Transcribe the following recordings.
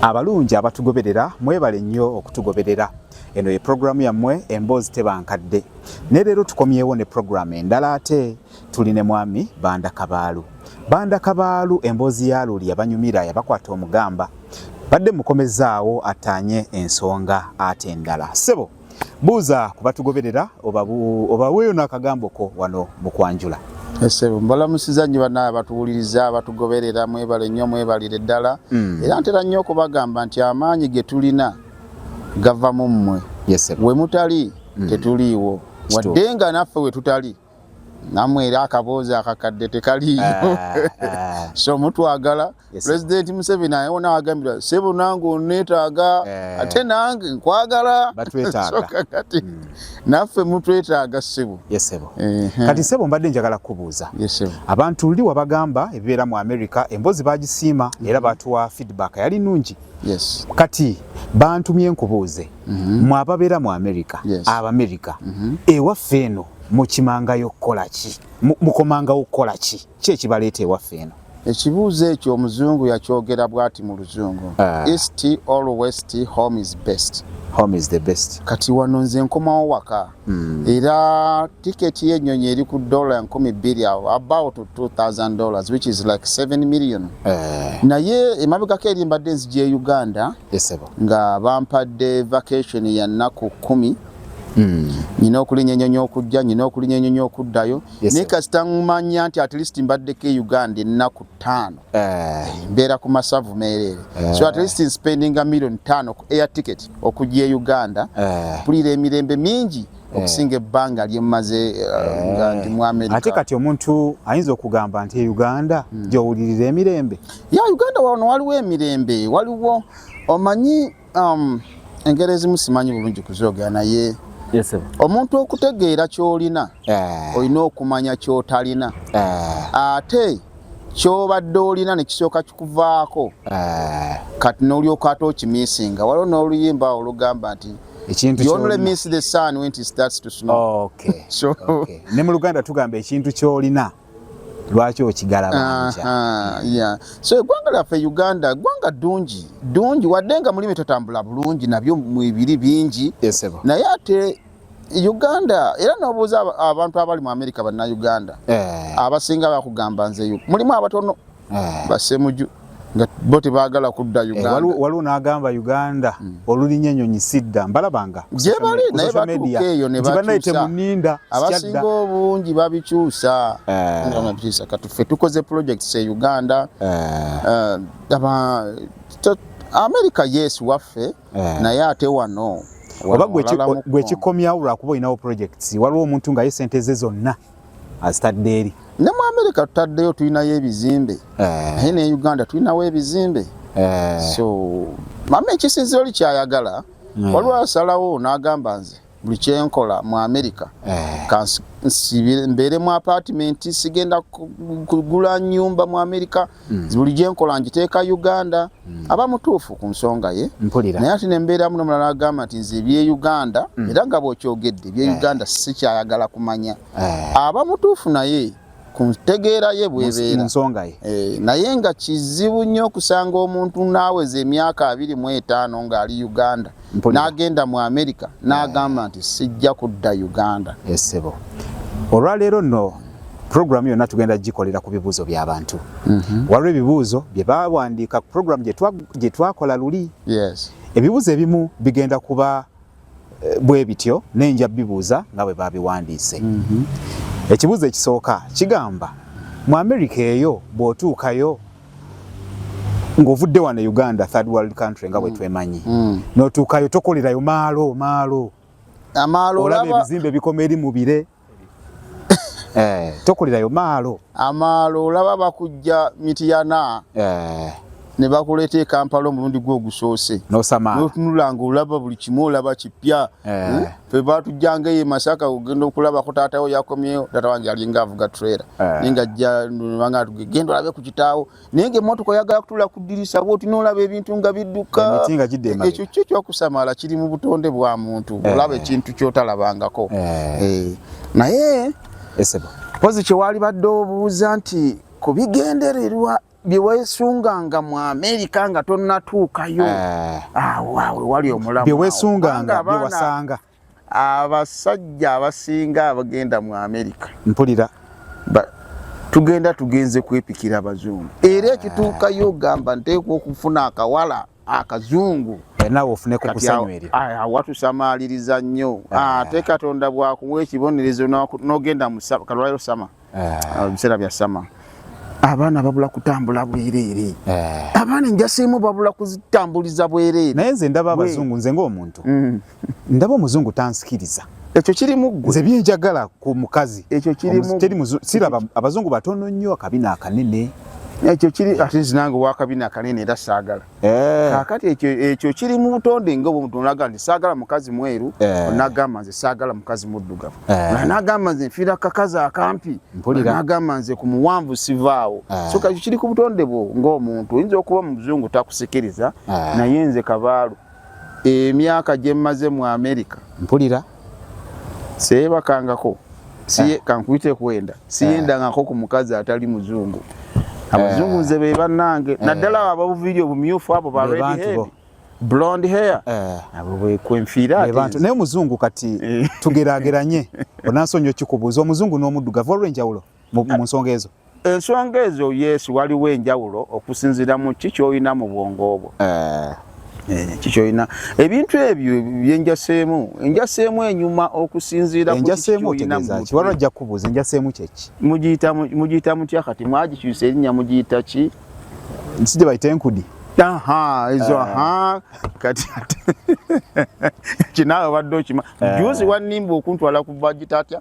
Abalungi abatugoberera mwebale nnyo okutugoberera. Eno ye programu yammwe emboozi teba nkadde. Ne leero tukomyewo ne programu endala ate tuli ne mwami Banda Kabaalu. Banda Kabaalu emboozi ya luli yabanyumira yabakwata omugamba. Badde mukomezaawo ataanye ensonga ate endala. Ssebo! buuza kubatugoberera obaweeyo n'akagambo ko wano mu kwanjula esebo mbalamusiza nnyo banaye abatuwuliriza abatugoberera mwebale nnyo mwebalire ddala hmm. era ntera nnyo okubagamba nti amaanyi ge tulina gava mu mmwe we mutali hmm. tetuliiwo wadde nga naffe we tutali namwe era akaboozi akakadde tekaliiyo ah, ah. so mutwagala pulezidenti museveni ayewo nawagambira sebo nange onetaaga eh. ate nange nkwagala kati hmm. naffe mutwetaaga sebo kati sebo mbadde njagala kukubuuza abantu luli wabagamba ebibeera mu america embozi bagisiima era batuwa feedback yali nungi kati bantumye nkubuuze mhm. mwe ababeera mu amerika abamerika mhm. ewaffe eno mukimangayo okukola ki mukomangawo okukola ki ki ekibaleeta ewaffe eno ekibuuzo ekyo omuzungu yakyogera bwati mu luzungu ah. east or west home is best home is the best kati wano nze nkomawo waka Hmm. era tiketi y'ennyonyi eri ku dola enkumi bbiri awo about 2000 dollars which is like 7 million eh. naye emabegako eri mbadde nzija e uganda nga bampadde vacation ya nnaku kumi hmm. nyina okulinya enyonyi okujja nyina okulinya enyonyi okuddayo naye kasita mumanya nti at least mbaddeko e uganda ennaku ttaano eh. mbeera ku masavu meereere eh. so at least spendinga million ttaano ku air ticket okujja e uganda eh. mpulira emirembe mingi eh. okusinga ebbanga lyemmaze eh, eh. nga ndi mu amerika ate kati omuntu ayinza okugamba nti e uganda hmm. gyowulirira emirembe ya uganda wano waliwo emirembe waliwo omanyi um, engeri ezimu simanyi bulungi kuzoogera naye omuntu okutegeera kyolina eh. olina okumanya kyotalina eh. ate kyobadde olina nekisooka kikuvaako eh. kati nolyoka ate okimisinga waliwo n'oluyimba olugamba nti ne mu luganda tugamba ekintu kyolina lwaki okigalabanja so eggwanga lyaffe uganda eggwanga ddungi ddungi wadde nga mulimu tetambula bulungi nabyo mwebiri bingi naye ate Uganda era nobuuza abantu abali mu America banna Uganda eh. abasinga bakugamba nze yu mulimu abatono eh. basemuju nga bo tebagala kudda eh, Uganda eh, waliwo n'agamba Uganda mm. olulinya enyonyi sidda mbalabanga gyebali naye batuuka eyo ne bakyusa abasinga obungi babikyusa eh. katuffe tukoze projects e Uganda eh. uh, aba, America yes waffe eh. naye ate wano oba gwe kikomyawo lwakuba olinawo projects waliwo omuntu nga ye sente ze zonna azitadde eri ne mu amerika tutaddeyo tulinayo ebizimbe eh. naye ne uganda tulinawo ebizimbe eh. so mama ekisinziro likyayagala waliwo asalawo n'agamba nze buli kyenkola mu america eh. kansibire mbeere mu apartment sigenda kugula nyumba mu america mm. buli gyenkola ngiteeka uganda mm. aba mutuufu ku nsonga ye naye ati nembeeramu nomulala agamba nti nze ebye uganda mm. era nga bwokyogedde ebye eh. uganda sikyayagala kumanya eh. aba mutuufu naye ku ntegeera ye bwebeera nsonga ye eh, naye nga kizibu nnyo okusanga omuntu naaweza emyaka abiri mu etaano ng'ali uganda n'agenda mu amerika n'agamba nti sijja kudda uganda esebo eh, olwaleero nno puroguramu yonna tugenda gikolera ku bibuuzo by'abantu mhm. waliwo ebibuuzo bye bawandiika ku puroguramu gye twakola luli ebibuuzo ebimu bigenda kuba eh, bwe bityo ne nja bibuuza nga bwe baabiwandiise mhm. ekibuuzo ekisooka kigamba mu amerika eyo bw'otuukayo ng'ovudde wano e uganda third world country nga bwe mm. twemanyi mm. n'otuukayo tokolerayo maalo maalo amaalo olaba ebizimbe bikoma eri mu bire eh, tokulirayo maalo amaalo olaba bakujja mitiyana eh. ne bakuleeta ekampala omulundi gwe ogusoose notunulanga olaba buli kimu olaba kipya eh. hmm? fe batujjanga eyo masaka ogenda okulabako taatawo yakomyewo taata wange yalinga avuga trera naye nga jja nbanga tugegenda olabe ku kitaawo naye nga emotoka oyagala kutula ku dirisa bwoti nolaba ebintu nga bidduka ekyo kyo kyokusamala kiri mu butonde bwa muntu eh. olaba ekintu kyotalabangako eh. Eh. naye pozi kyewali badde obuuza nti ku bigendererwa byewesunganga mu amerika nga tonatuukayo awawe ah, wali omulamu byewesunganga byewasanga abasajja abasinga abagenda mu amerika mpulira tugenda tugenze kwepikira abazungu era ekituukayo ogamba nteekwa okufuna akawala akazungu watusamaliriza nnyo ah. ate katonda bwakuwa ekibonerezo nogenda musaba kalwaliro sama ah. biseera bya sama abaana babula kutambula bwereere eh. abaana enjasiimu babula kuzitambuliza bwereere naye nze ndaba abazungu nze ngaomuntu mm. ndaba omuzungu tansikiriza ekyo kirimu gwe nze byenjagala ku mukazi ekyo kirimu siraba abazungu batono nnyo akabina akanene ekyo kiri ati nze nange wakabina akanene era saagala Eh. kakati ekyo ekyo kiri mu butonde nga obwo mutonde agamba nti saagala mukazi mweru eh. nagamba nze saagala mukazi muddugavu eh. nagamba nze nfiira kakazi akampi nagamba nze ku muwanvu sivaawo so kakyo kiri ku butonde bwo ng'omuntu oyinza okuba mu buzungu takusikiriza naye nze kabaalu emyaka gye mmaze mu amerika mpulira seyebakangako siye eh. kankuyite kwenda siyendangako eh. ku mukazi atali muzungu abazungu nze be bannange naddala abo ababuviiri obumyufu abo ba redhead blonde hair eh. abo bwekwenfiira bantu naye omuzungu kati eh. tugerageranye onansonyi okikubuuza omuzungu n'omuddugavu olw'enjawulo mu nsonga ezo ensonga ezo yes waliwo enjawulo okusinzira mu ki kyolina mu bwongo obwo eh. Eh, kikyolina ebintu ebyo byenjaseemu enjaseemu enyuma okusinziira kukiwalajja kubuuza enjaseemu kyeki mugiyita mutya kati mwagikyusa erinnya mugiyita ki sijja bayita enkudi aha ezo aha eh. kati kinaawe obadde okima eh. juzi wannimba okuntwala ku bagita atya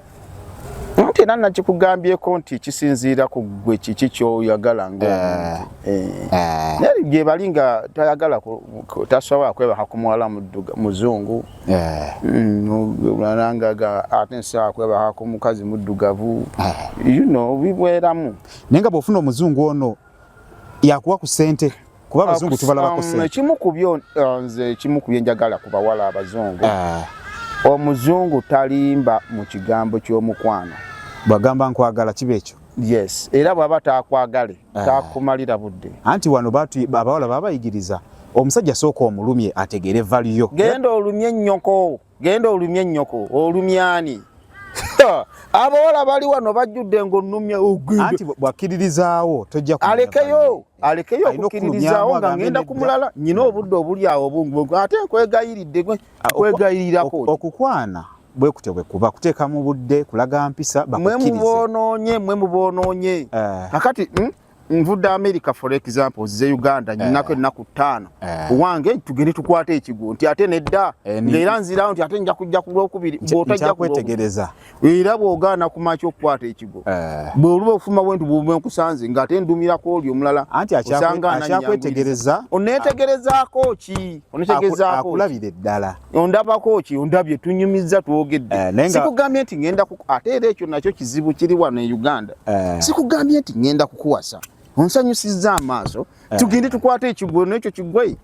nti era nakikugambyeko nti kisinziira ku gwe kiki kyoyagala ngaomuntu eh. eh. naye gyebali nga tayagala tasobola kwebaka ku muwala muzungu eh. mm, nangaga ate nsobola kwebaka ku mukazi muddugavu you know bibweramu naye nga bwofuna omuzungu ono yakuwa ku sente kuba abazungu tubalabako sente. Um, ekimu ku byo uh, nze ekimu ku byenjagala ku bawala abazungu ah. omuzungu talimba mu kigambo ky'omukwano bwagamba nkwagala kiba ekyo yes era bwaba takwagale ah. takumalira budde anti wano abawala babayigiriza omusajja sooka omulumye ategeere valiyo genda olumye nnyoko genda olumye nyoko olumyani abawala bali wano bajjudde ng'onnumya anti bwakkiririzaawo tojja alekeyo alekeyo okukkiririzaawo nga ngenda ku mulala nyina obudde obuli awo obungi ate nkwegayiridde nkwegayirirako okukwana bwekutyo bwekuba kuteeka mu budde kulaga mpisa mwe muboonoonye mwe muboonoonye eh. kakati hmm? nvudde america for example zize uganda nyinako eh. ennaku ttaano eh. wange tugende tukwate ekigwo nti ate nedda eh, ngaera nzirawo nti ate nja kujja ku lwokubiri bwotajjakwetegereza era bwogaana kumaki okukwata ekigwo bwe oluba okufuma bwentu bube nkusanze nga ate ndumirako oli omulala anti akyakwetege onetegerezaako ki onetegezaako akulabire ddala ondabako ki ondabye tunyumizza twogedde eh, sikugambye nti ngenda ate era ekyo nakyo kizibu kiri wano e uganda eh. sikugambye nti ngenda kukuwasa onsanyusizza amaaso eh. tugende tukwate ekigwo nekyo kigwe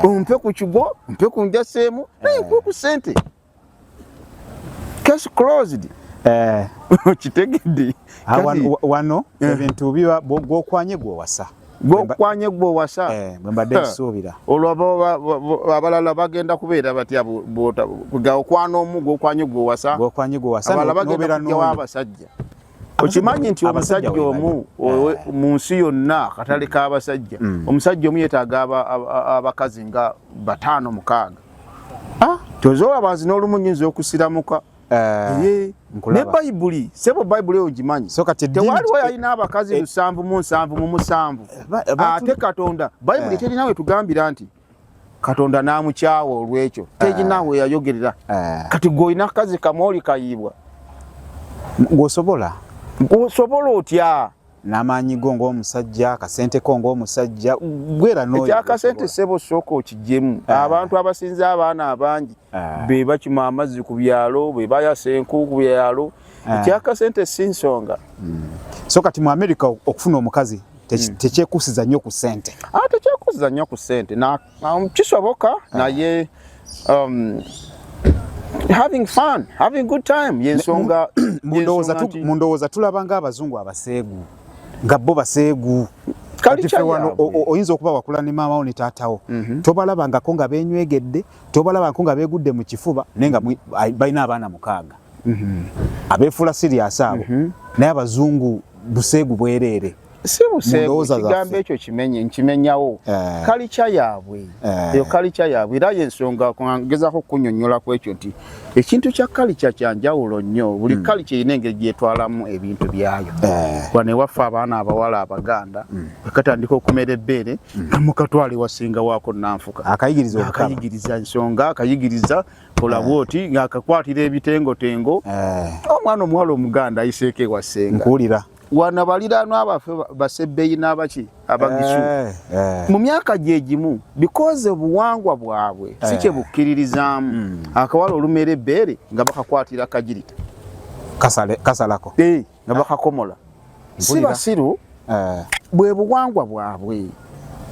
ompe ku kigwo mpe ku njaseemu naye nkuwe ku sente case closed okitegedde wano ebintu biba gwokwanye gwewasa gwokwanye gwowasa eh, bwembadde nsuubira olwo abalala bagenda kubeera batya okwana omu gwokwanye gwowasa abala bagenda kujawo abasajja okimanyi nti omusajja omu eh. mu nsi yonna akatale k'abasajja mm. omusajja omu yetaaga abakazi nga bataano mukaaga ah, tozoola bazi n'olumu nyinza okusiramuka Eh, ne bayibuli sebo bayibuli eyo gimanyi tewaliwo yalina abakazi eh, lusanvu mu nsanvu mu musanvu eh, ate katonda bayibuli terinawe tugambira nti katonda namukyawa olwekyo teginawe yayogerera kati gweolina kazi kamooli kayiibwa gwosobola gwosobola otya n'amaanyi go ng'omusajja akasente ko ng'omusajja gwera noekyakasente sebo sooka okijemu ah. abantu abasinza abaana abangi ah. be bakima amazzi ku byalo be bayasa enku ku byalo ah. ekyakasente si nsonga hmm. so kati mu amerika okufuna omukazi hmm. tekyekusiza nnyo ku sente tekyekusiza nnyo ku sente um, kisoboka ah. naye um, having fun having good time yensonga mundowooza tulaba nga abazungu abaseegu nga bo baseegu oyinza okuba wakula ne maamawo ne taatawo mhm. tobalabangako nga benywegedde tobalabangako nga begudde mu kifuba naye nga balina abaana mukaaga mhm. abeefuula siriasi abo mhm. naye abazungu buseegu bwereere si buseegu kigambo ekyo kimenye nkimenyawo eh. kalikya yaabwe eh. eyo kalikya yaabwe era yensonga ngezako kunyonyola ku ekyo nti ekintu kya kalikya kyanjawulo nnyo buli hmm. kalikya erina engeri gyetwalamu ebintu byayo eh. wano ewaffe abaana abawala abaganda hmm. ekatandika okumera ebbeere hmm. namukatwala ewasinga waako nanfuka akayigiriza ensonga akayigiriza olaba eh. oti ng'akakwatira ebitengotengo eh. omwana omuwala omuganda ayiseeko ewasenga nkuwulira wana baliraanwa baffe basebbeyi n'abaki abagisu eh, eh. mu myaka gye gimu bikoze obuwangwa bwabwe eh. si kye bukkiririzaamu hmm. akawala olumera ebbeere nga bakakwatira kagirita kasalako nga bakakomola si basiru bwe buwangwa bwabwe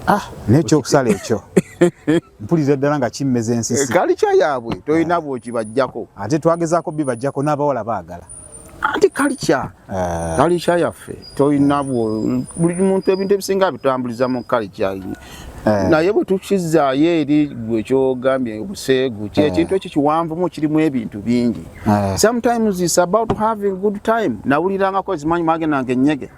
ah, n'ekyokusala ekyo mpulira ddala nga kimmeza ensisi eh, kalica yaabwe tolina eh. bwokibajjako ate twagezaako bibajjako n'abawala baagala anti kalica eh. kalica yaffe tolina buli muntu ebintu ebisinga abitambuliza mu kalica Eh. naye bwe tukizaayo eri gwe kyogambye obuseegu kyekintu eh. ekyo kiwanvumu kirimu ebintu bingi eh. sometimes is about having good time nawulirangako ezimanyi magenange enyege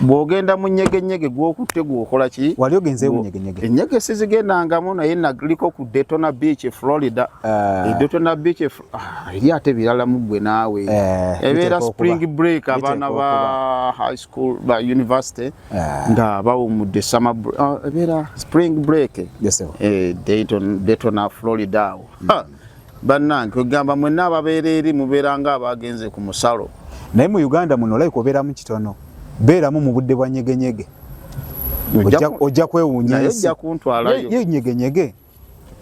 bwogenda mu nyegenyege gwokutte gwokola ki wali ogenze munyegenyege enyege sizigendangamu naye naliko ku detona beach e florida ah. e detona beach e ah, eri ate birala muggwe naawe eh, ebeera spring break abaana ba high school ba university eh. nga bawumudde summer ah, ebeera spring break eh, detona florida awo hmm. bannange kwegamba mwenna ababeera eri mubeera nga abaagenze ku musalo naye mu uganda muno olayika obeeramu kitono beeramu mu budde bwa nyegenyege ojja kwewuunya ensi ye nyegenyege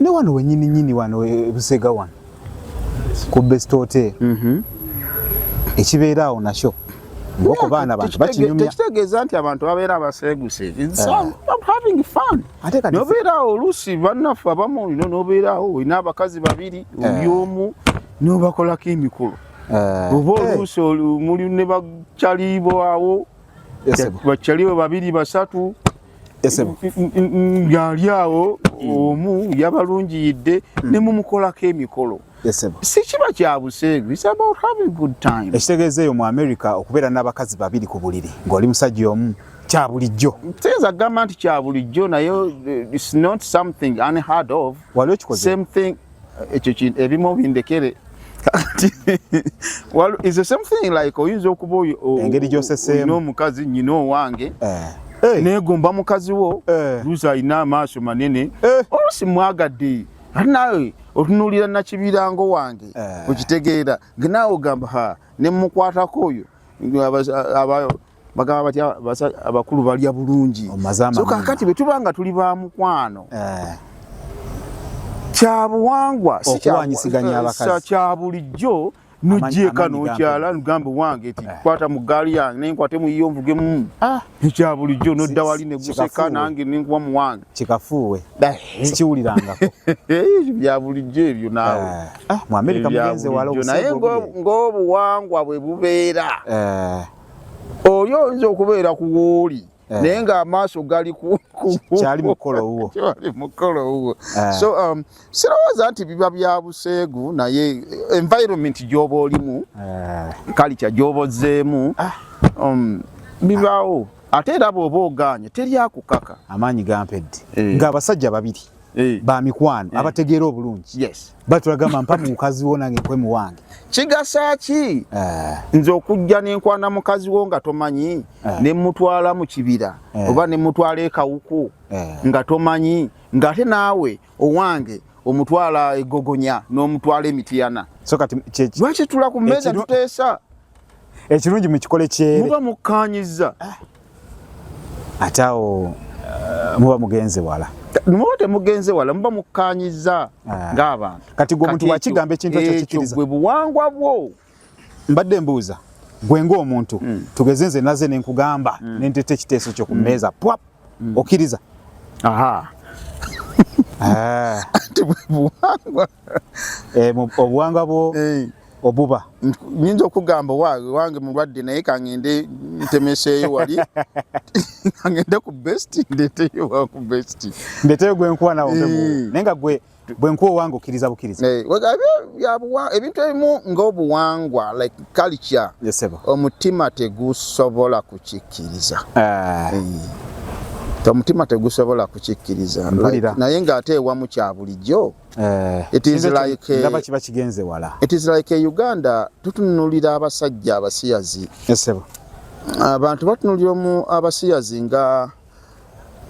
ne wano wenyini nyini wano e, busega wano ku best hotel mhm. ekibeera awo nakyo ngoko baana bantu bakinyumya tekitegeeza nti abantu babeera abaseeguse ate kati nobeerawo oluusi bannaffe abamu olina nobeerawo olina abakazi babiri eh. oli omu nobakolako emikolo eh. oba eh. oluusi muli ne bakyalibo awo bakyalibo babiri basatu ngaali awo hmm. omu yabalungiyidde hmm. nemumukolako emikolo mm. sikiba kya buseegu ekitegeeza eyo mu america okubeera n'abakazi babiri ku buliri ng'oli musajja omu kya bulijjo siyinza kugamba nti kya bulijjo naye wali okikozeemuthing ekyo kintu ebimu bindekere oyinza okuba engeri gyoseseemu omukazi nyina owange eh. Eh. negomba mukazi wo eh. luzi alina amaaso manene olusi mwagadde ate naawe otunuulira nakibirango wange eh. okitegeera naawe ogamba ha nemukwatako oyo bagamba batya abakulu balya bulungi so kakati bwe tuba nga tuli ba mukwano eh. kyabuwangwa kya bulijjo nojjeeka nokyala nugamba wange ti eh. kwata mu gaali yange naye nkwate muyiyo nvugemu ah. ekya bulijjo nodda wali neguseka nange nenkuwa mu wange kikafuuwe eh. sikiwulirangako eh, bya bulijjo ebyo naawe ah, mu amerika mugenze walanaye ng'obuwangwa bwe bubeera oli oyinza okubeera ku wooli eh. naye nga amaaso gali kyali mukolo wuwo kyali mukolo wuwo eh. so um, sirowooza nti biba bya buseegu naye eh, environment gyoba olimu kalikya gyoba ozzeemu ah. um, bibaawo ate era bw'oba ogaanye teri akukaka amaanyi gampedde ng'abasajja babiri Eh. ba mikwano eh. abategeera obulungi yes. batulagamba mpa mukazi wo nange nkwe muwange kigasa ki eh. nze okujja nenkwana mukazi wo nga tomanyi eh. nemutwala mu kibira eh. oba nemutwala ekawuku eh. nga tomanyi ngaate naawe owange omutwala egogonya n'omutwala emitiyana so lwaki tula ku mmeeza tuteesa ekirungi mukikole kyeremuba mukkanyiza ah. ate awo uh, muba mugenze wala muba temugenze wala muba mukkanyiza ah. ng'abantu kati gwe omuntu wakigamba ekintu ekyo kikiriza gwe buwangwa bwo mbadde mbuuza gwe ng'omuntu mm. tugeze nze naze ne nkugamba mm. ne nteeta ekiteeso kyo ku mm. mmeeza pwap mm. okkiriza aha ah. anti bwe buwangwa eh, obuwanga bwo eh. obuba nyinza okugamba wange mulwadde naye kangende ntemeseeyo wali kangende ku best ndeteyo ku best ndeteyo gwenkuwa nawe eh. naye nga gwe bwenkuwa owange okkiriza bukkiriza ebintu ebimu ngaobuwangwa like culture omutima tegusobola kukikkiriza ah. omutima tegusobola kukikkiriza naye ng'ate ewamu kya bulijjo Eh, it is like a, ndaba kiba kigenze wala it is like a uganda tutunulira abasajja abasiyazi esebo abantu batunulira mu abasiyazi nga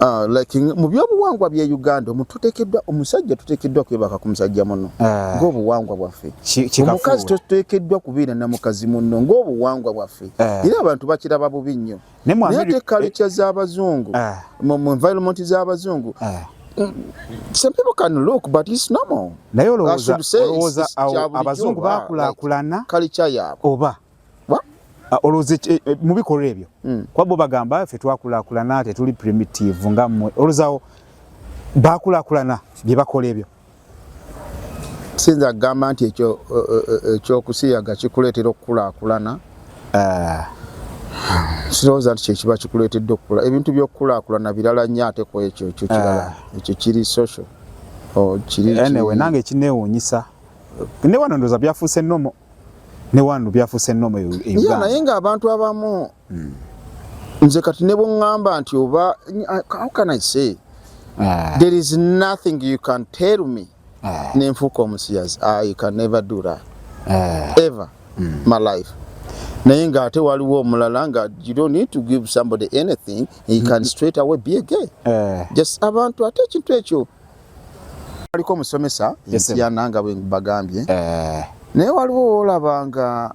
uh, like mu byobuwangwa bye uganda omututekedwa omusajja tutekedwa kwebaka ku musajja muno eh. ng'obuwangwa bwaffe omukazi tutekedwa kubeera na mukazi muno ng'obuwangwa bwaffe eh. era abantu bakiraba bubi nnyo naye ate culture z'abazungu ah. mu environment z'abazungu ah. some people can look but it's normal naye olowooza abazungu bakulakulana culture yaabwe oba ah, olowooza eh, eh, mu bikolwa ebyo hmm. kuba bo bagamba ffe twakulakulana tetuli primitive nga mmwe olowoozawo bakulakulana bye bakola ebyo sinza kugamba nti ekyo e, e, e, ekyokusiyaga kikuleetera okukulaakulana ah. sirowooza nti kyekiba kikuleetedde okukula ebintu byokukulaakulana birala nnyo ate ku ekyo ekyo kirala ah. ekyo kiri social oh, nange kinewuunyisa ne wano ndoza byafuuse nomo ne wano byafuuse nnomo e uganda naye ng'abantu abamu hmm. nze kati ne bweŋŋamba nti oba how can i say ah. there is nothing you can tell me ah. ne nfuuka omusiyazi i ah, can never do that ah. ever hmm. my life naye ng'ate waliwo omulala nga you don't need to give somebody anything he can hmm. straight away be a gay eh. just abantu ate ekintu ekyo aliko omusomesa entyana nga bwebagambye eh. naye waliwo wolaba nga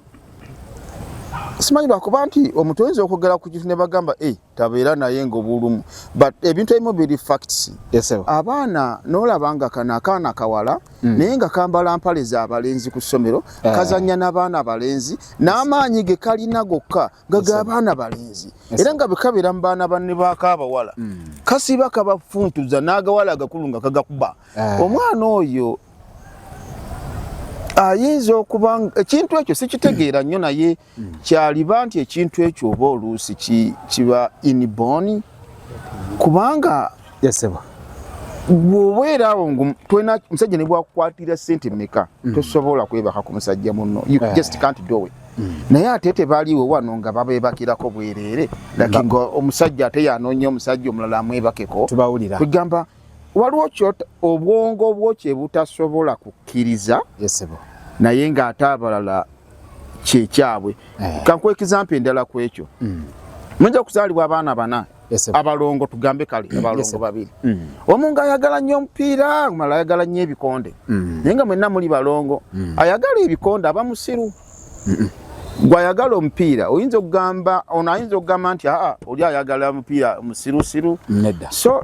simanyi lwakuba nti omuntu oyinza okwogera ku kintu ne bagamba e eh, tabeera naye ngaobulumu but ebintu ebimu biri facts abaana nolaba nga kano akaana kawala mm. naye nga kambala mpale za balenzi ku ssomero eh. kazanya n'abaana abalenzi n'amaanyi ge kalina gokka nga ga baana balenzi era nga bekabeera mu baana banne bakaabawala mm. kasiba kabafuntuza n'agawala agakulu nga kagakuba eh. omwana oyo ayinza okuba ekintu ekyo sikitegeera nnyo naye mm. kyaliba nti ekintu ekyo oba oluusi kiba iniboni kubanga yaseba bwoba era awo ngu twena musajja ne bwakukwatira sente meka mm. tosobola kwebaka ku musajja munno you eh. just can't do it mm. naye ate tebaliwo wano nga babebakirako bwerere laki nga omusajja ate yanoonya omusajja omulala amwebakeko tubawulira kwegamba waliwo kyota obwongo bwo kye butasobola kukkiriza naye ng'ate abalala kyekyabwe eh. kankuwa ekizampa endala ku ekyo mm. mujja kuzaalibwa abaana bana abalongo tugambe kale mm. abalongo babiri mm. omu nga ayagala nnyo omupiira mala ayagala nnyo ebikonde naye nga mwenna muli balongo ayagala ebikonde aba musiru gwayagala omupiira oyinza okugamba ono ayinza okugamba nti aa oli ayagala omupiira musirusiru so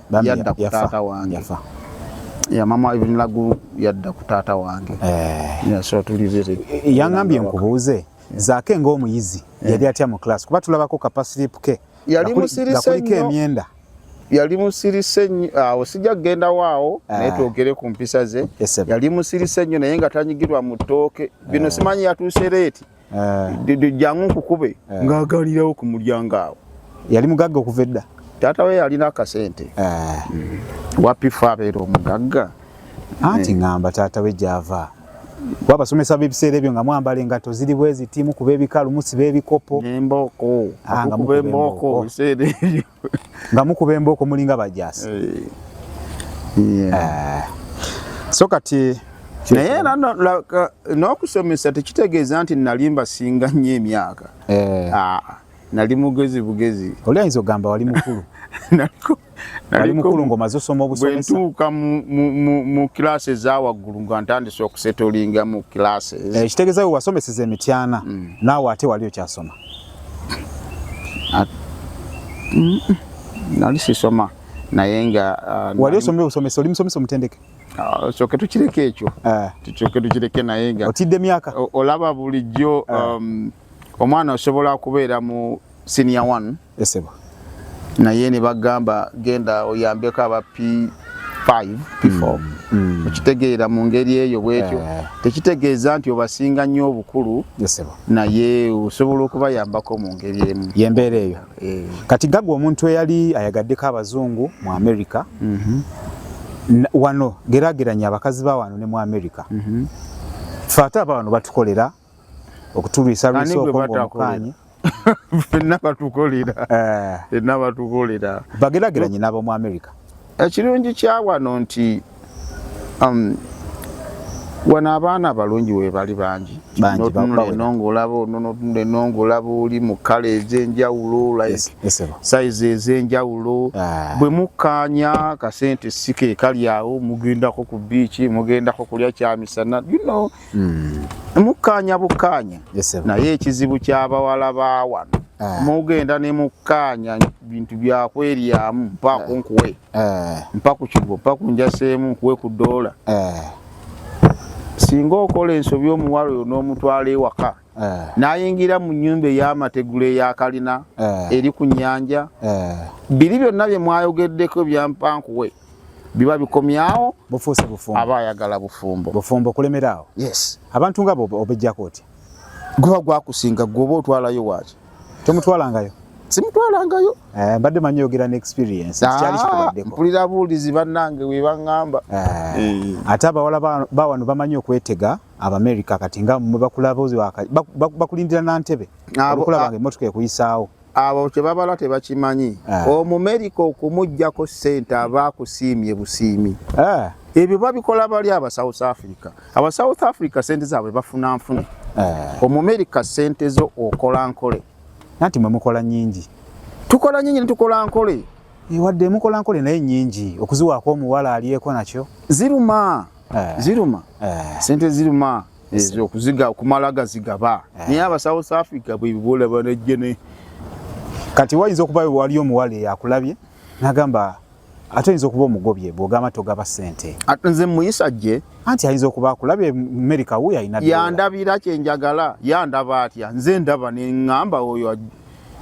yadda ku taata wange ya mama even lagu yadda ku taata wange eh. yeah, so tulibere yangambye nkubuuze zaake ng'omuyizi eh. yali atya mu class kuba tulabako kapasilipu ke yali musirise nnyo emyenda yali musirise nnyo awo sijja kugenda waawo eh. naye twogere ku mpisa ze yali musirise nnyo naye nga tanyigirwa mu ttooke bino simanyi yatuuse leeti jangu nkukube ng'agalirawo ku mulyango awo yali mugagga okuva edda taata we yalina akasente mm. wapifa abeera omugagga anti ngamba taata we gyava kuba abasomesa b'ebiseera ebyo nga mwambala engatto ziri bweziti mukuba ebikalu musiba ebikopo nembooko ah, nga mukuba embooko ebiseera ebyo nga mukuba embooko mulinga bajaasi eh. Eh. so kati naye era n'okusomesa tekitegeeza nti nali mbasinga nnyo emyaka eh. ah, nali mugezi bugezi oli ayinza okugamba wali mukulu nali mukulu ngaomaze osoma obusomesa bwentuuka mu kilaasi eza waggulu nga ntandise okusetolinga mu kilaasi ekitegeeza we wasomeseza emityana mm. naawe ate wali okyasoma nali sisoma naye nga uh, wali osomye obusomesa oli musomesa omutendeke uh, kyoke tukireke ekyo uh. kyoke tukireke naye nga otidde emyaka olaba bulijjo um, omwana osobola okubeera mu senior one esebo naye ne bagamba genda oyambeko aba p5 p4 mm, mm. okitegeera mu ngeri eyo bwetyo eh. tekitegeeza nti obasinga nnyo obukulu naye osobola okubayambako mu ngeri emu yembeera eyo eh. kati gagwa omuntu eyali ayagaddeko abazungu mu amerika mhm. wano gerageranya abakazi ba wano ne mu amerika mhm. fe ate aba wano batukolera okutulwisa lwisa okwomukanye fenna batukolera eh. fenna batukolera bagerageranye n'abomu amerika ekirungi eh, kya wano nti um, wano abaana abalungi webali bangi notunula eno ngaolaba ono notunula eno ngaolaba oli mu kala ezenjawulo like saizi ezenjawulo ah. bwe mukkaanya kasente sika ekali awo mugendako ku biiki mugendako kulya kyamisana you know Hmm. mukkaanya bukkaanya naye ekizibu ky'abawala ba wano ah. mugenda ne mukkaanya bintu byakweryamu mpa ah. kunkuwe ah. mpa ku kigo mpa ku njaseemu nkuwe ku doola singa okola ensobi omuwala oyo n'omutwala ewaka n'ayingira mu nnyumba ey'amategula eyakalina eri ku nnyanja biri byonna bye mwayogeddeko byampankuwe biba bikomyawo bufuuse bufumbo aba ayagala bufumbo bufumbo kulemeraawo yes abantu nga bo obejjako otya guba gwakusinga gwoba otwalayo waaki tomutwalangayo simutwalangayo eh, mbadde manyi yogera ne experience ah, kyali kikubaddeko mpulira buulizi bannange we baŋŋamba eh, eh. ate abawala ba wano bamanyi okwetega abamerica kati nga mwe bakulaboozi bakulindira na ntebe olukulabange emmotoka ekuyisaawo abo kyebabala tebakimanyi ah. omumerika okumugjako sente aba akusiimye busiimi ah. ebyo babikola bali aba south africa aba south africa sente zaabwe bafuna nfune ah. omumerika sente zo okola nkole nanti mwe mukola nyingi tukola nyingi netukola nkole eh, wadde mukola nkole naye nyingi okuziwaako omuwala alyeko nakyo ziruma ziruma sente ziruma ezo okuziga okumala gazigaba eh. naye aba south africa bwebibola banejjene kati wayinza okuba waliyo omuwala eyakulabye nagamba ate oyinza okuba omugobye bwogamba togaba sente nze muyisa gye anti ayinza okuba akulabye amerika wuyo alina yandabira kyenjagala yandaba atya nze ndaba neŋamba oyo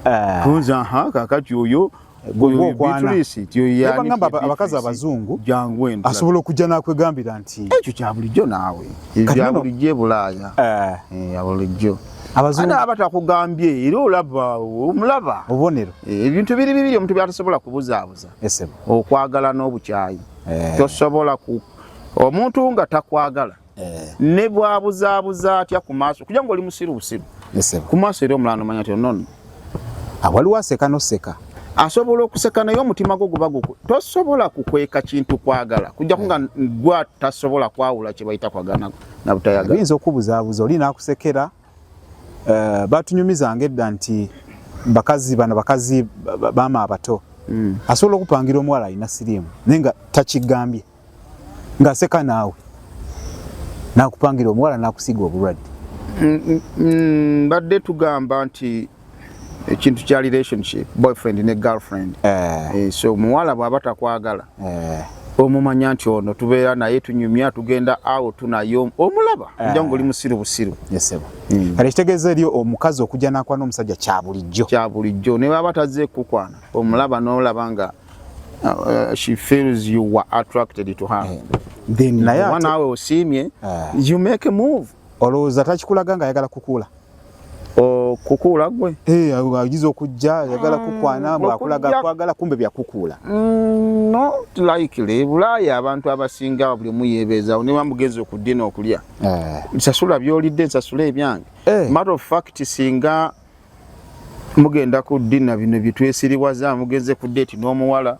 eh. kunza kakati oyo gwogwokwanabagamba abakazi abazungu asobola okujja nakwegambira nti ekyo kyabulijjo naawe kyabulijjo ebulaaya eh. eh, abulijjo aba takugambye era olaba omulaba obubonero eh, ebintu biri bibiri omuntu byatasobola kubuzaabuza okwagala n'obukyayi tosobola omuntu nga takwagala eh. ne bwabuzaabuza atya ku maaso kuja nga oli musiru busiru ku maaso era omulala nomanya ti onono awaliwo ah, aseka noseka asobola okuseka naye omutima gwo guba guku tosobola kukweka kintu kwagala kujjaku nga gwa tasobola kwawula kye bayita kwagala na butayagala oyinza okubuzaabuza oli nakusekera eh, batunyumizanga edda nti bakazi bano bakazi bama abato hmm. asobola okupangira omuwala alina siriimu naye nga takigambye ngaseka naawe nakupangira omuwala nakusiga obulwadde mm, mm, mm, mbadde tugamba nti ekintu kya relationship boyfriend ne girlfriend eh. Eh, so omuwala bwaba takwagala eh. omumanya nti ono tubeera naye tunyumya tugenda awo tunayo omulaba eh. nja ngoli musiru busiru yesebo hmm. kale kitegeeza eri omukazi okujja nakwana omusajja kyabulijjo kyabulijjo ne baba taze kukwana omulaba nolaba nga Uh, uh, she feels you were attracted to her. Yeah. Then naye one hour osimye, uh, you make a move. Olowooza takikulaga nga ayagala kukuula. Oh, kukuula gwe? Eh, agize okujja ayagala mm, kukwana mbu akulaga kwagala kumbe bya kukuula. Mm, no, likely. Bulaaya abantu abasinga buli mu yebeeza ne bamugeza okuddina okulya. Eh. Sasula byolidde, sasula ebyange. Eh. Matter of fact singa mugenda ku dina bino byetwesiriwaza mugenze ku deti n'omuwala